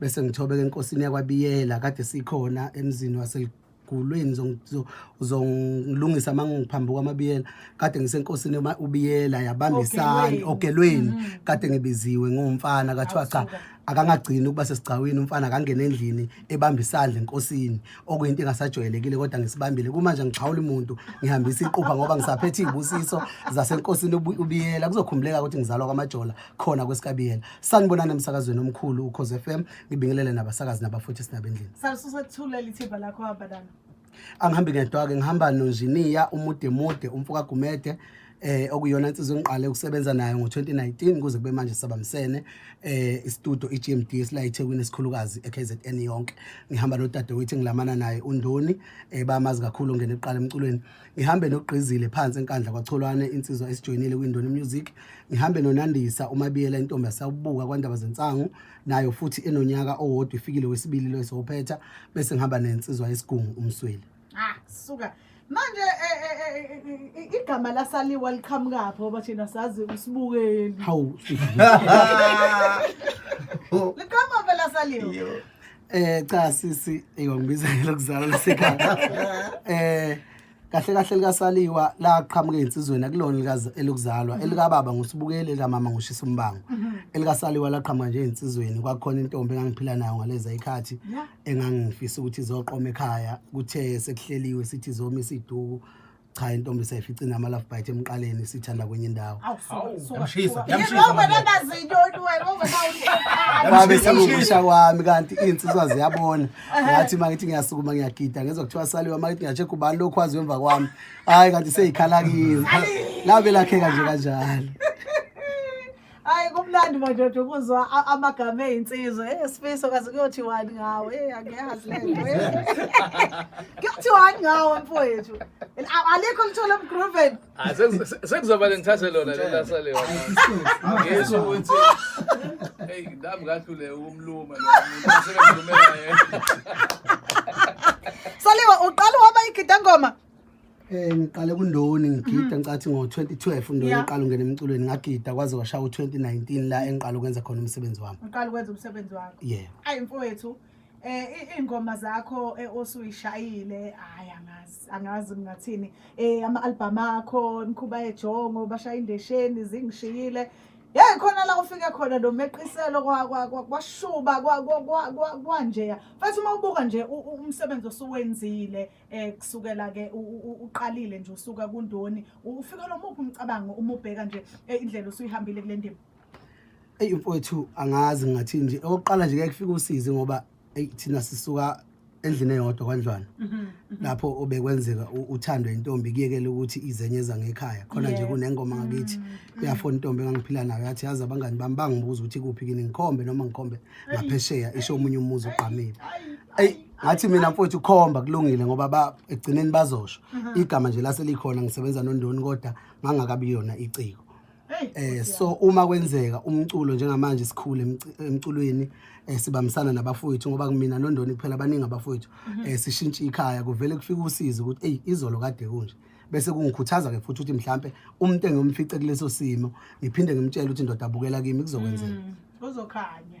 bese ngithobeka enkosini yakwabiyela kade sikhona emzini waselugulweni uzongilungisa uma ngiphambi kwamabiyela kade ngisenkosini ubiyela yabamba isani ogelweni mm. kade ngibiziwe ngumfana kathiwa cha akangagcini ukuba sesigcawini umfana akangena endlini ebamba isandla enkosini okuyinto engasajwayelekile kodwa ngisibambile kumanje ngixhawula umuntu ngihambisa iqupha ngoba ngisaphethe iy'busiso zasenkosini ubiyela kuzokhumbuleka ukuthi ngizalwa kwamajola khona kwesikabiyela sanibonani emsakazweni omkhulu ukhoze f m ngibingelele nabasakazi nabafuthi sinabendlini salususethulela ithimba lakho hamba nalo angihambi ngedwa-ke ngihamba nonjiniya umude mude umfoka gumede eh okuyona insizwa engiqale ukusebenza nayo ngo-2019 kuze kube manje sabamsene eh istudio i-GMD esila eThekwini esikhulukazi eKZN yonke ngihamba nodadewethu engilamana naye uNdoni eh bamazi kakhulu ngene eqala emculweni ngihambe nogqizile phansi enkandla kwacholwane insizwa esijoyinile kwindoni music ngihambe nonandisa umabiyela intombi yasawubuka kwandaba zensangu nayo futhi enonyaka owodwa ifikile wesibili lo esophetha bese ngihamba nensizwa yesigungu umsweli ah suka manje eh, eh, eh, igama lasaliwa liqhamukaphi ngoba thina sazi usibukeli hawu liqhamuka phela saliwa Eh cha sisi eyongibiza lokuzala lasekhaya. Eh kahle kahle likasaliwa laqhamuka insizweni akulona likazi- elokuzalwa Mhm. elikababa ngusibukeli elikamama ngushisa umbango elikasaliwa laqhamuka nje insizweni kwakukhona intombi engangiphila nayo ngaleza ikhathi Yeah. engangifisa ukuthi izoqoma ekhaya kuthe sekuhleliwe sithi izomisa iduku cha intombi seyifica inama love bite emqaleni sithanda kwenye indawo babe sekukusha kwami kanti iy'nsizwa ziyabona ngathi uma ngithi ngiyasukuma ngiyagida ngezwa kuthiwa saliwe uma ngithi ngiyashekha ubani lokhu waziwe emva kwami hhayi kanti seyikhalakile labe lakheka nje kanjalo Hayi kumnandi madoda ukuzwa a- amagama ezinsizwa. Eh sifiso kaze kuyothi wani ngawe. Eh angiyazi lento. Kuyothi wani ngawe mfowethu. A- Alikho lithola emgroven. Ah, seku- se- sekuzoba lengithathe lona lona sale wona ngisho ukuthi hey nami ngahlule ukumluma lo muntu asekamlumela yena Saliwa uqala waba igidangoma. Eh ngiqale kundoni ngigida ngicathi ngo-2012 undoni Yeah. ngiqala ungena emculweni ngagida kwaze kwashaya u-2019 la engiqala ukwenza khona umsebenzi wami uqala ukwenza umsebenzi wakho yeah ayi mfowethu eh i- iy'ngoma zakho eh, osuyishayile hayi angazi angazi ngingathini eh ama-albhamu akho imikhuba yejongo bashaya indesheni zingishiyile yeyi khona la ufike khona nomeqiselo kwa- kwa- kwa- kwashuba kwa- kwa- kwa- kwa- kwanjeya futhi uma ubuka nje u- u- umsebenzi osuwenzile eh kusukela ke uqalile nje usuka kundoni ufika lo muphi umcabango uma ubheka nje eh, indlela usuyihambile kule ndima eyi mfowethu angazi ngathi nje okokuqala nje kuyakufika usizi ngoba eyi thina sisuka endlini eyodwa kwanjwana mhm, mhm. lapho obekwenzeka uthando intombi kuyekele ukuthi izenye zangekhaya khona nje kunengoma ngakithi mm, mm. kuyafona intombi engangiphila nayo yathi yazi abangani bami bangibuza ukuthi kuphi kini ngikhombe noma ngikhombe ngaphesheya isho omunye umuzi ugqamile eyi ngathi mina mfowethu khomba kulungile ngoba ba ekugcineni bazosho Mhm. igama nje laselikhona ngisebenza nondoni kodwa ngangakabi yona iciko eh so uma kwenzeka umculo njengamanje sikhule emci- emculweni eh sibambisana nabafowethu ngoba kumina nondoni kuphela abaningi abafowethu Mhm. eh sishintshe ikhaya kuvele kufika usizi ukuthi hey izolo kade kunje bese kungikhuthaza ke futhi ukuthi mhlambe umuntu engomfice kuleso simo ngiphinde ngimtshele ukuthi ndoda abukela kimi kuzokwenzeka Mm, kuzokhanya